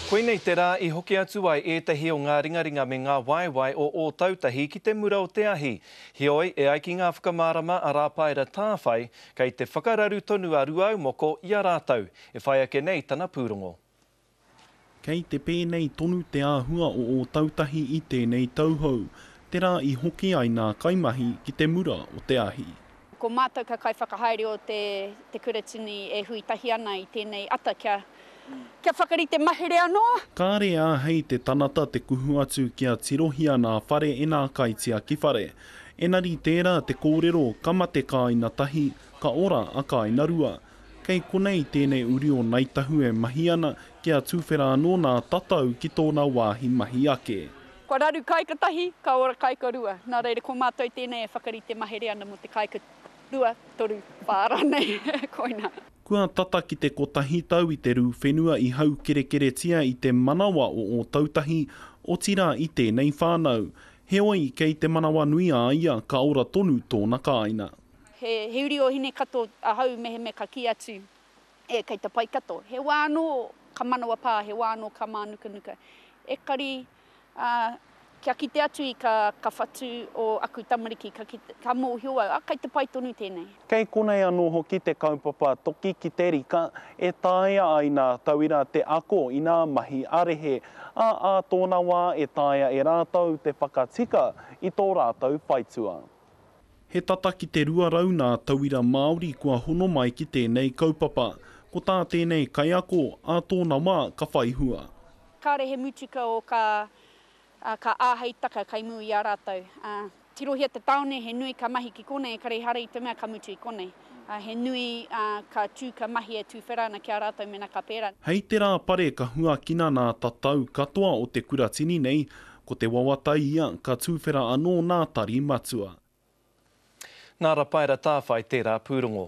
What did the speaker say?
Koinei te rā i hoki atu ai ētahi o ngā ringaringa me ngā waewae o Ōtautahi ki te mura o te ahi. Heoi, e ai ki ngā whakamārama a Rāpaera Tāwhai, kei te whakararu tonu a Ruaumoko i a rātou, e whai ake nei tana pūrongo. Kei te pēnei tonu te āhua o Ōtautahi i tēnei tauhou, te rā i hoki ai nā kaimahi ki te mura o te ahi. Ko mātou kā kaiwhakahaere o te Te Kuratini e hui tahi ana i tēnei ata kia kia whakarite mahere anō. Kāre āhei te tanata te kuhu atu kia tirohia nā whare e nā kaitiaki whare. Enari tērā te kōrero ka mate kāina tahi, ka ora a kāina rua. Kei konei tēnei uri o Ngāi Tahu e mahi ana kia tuwhera anō nā tatau ki tōna wāhi mahi ake. Kua raru kāika tahi, ka ora kāika rua. Nā reira, ko mātou tēnei e whakarite mahere ana mō te kāika rua, toru, whā rānei. Koina. Kua tata ki te kotahi tau i te rū whenua i haukerekeretia i te manawa o Ōtautahi, otirā i tēnei whānau. Heoi, kei te manawanui a ia, ka ora tonu tōna kāina. He uri o Hinekato ahau mehemea ka kī atu, e kei te pai kato. He wā anō ka manawa pā, he wā anō ka mānukanuka. Ekari ā, kia kite atu i ka, ka whatu o aku tamariki, ka, kite, ka mōhio au, ā, kei te pai tonu tēnei. Kei konei anō hoki te kaupapa Toki ki te Rika e taea ai nā tauira te ako i nā mahi ā-rehe, ā, ā tōna wā e taea e rātou te whakatika i tō rātou whaitua. He tata ki te 200 nā tauira Māori kua hono mai ki tēnei kaupapa. Ko tā tēnei kaiako, ā tōna wā ka whai hua. Kāre he mutuka o kā ka āhei taka kai mua i a rātou. Tirohia te taone he nui ka mahi ki konei, kare ehara i te mea ka mutu i konei. He nui ka tū, ka mahi e tūwhera ana ki a rātou mena ka pērā. Hei te rā pare ka huakina nā tatau katoa o te kuratini nei, ko te wawatai ia ka tūwhera anō nā Tari Matua. Nā Rapaera Tāwhai tērā pūrongo.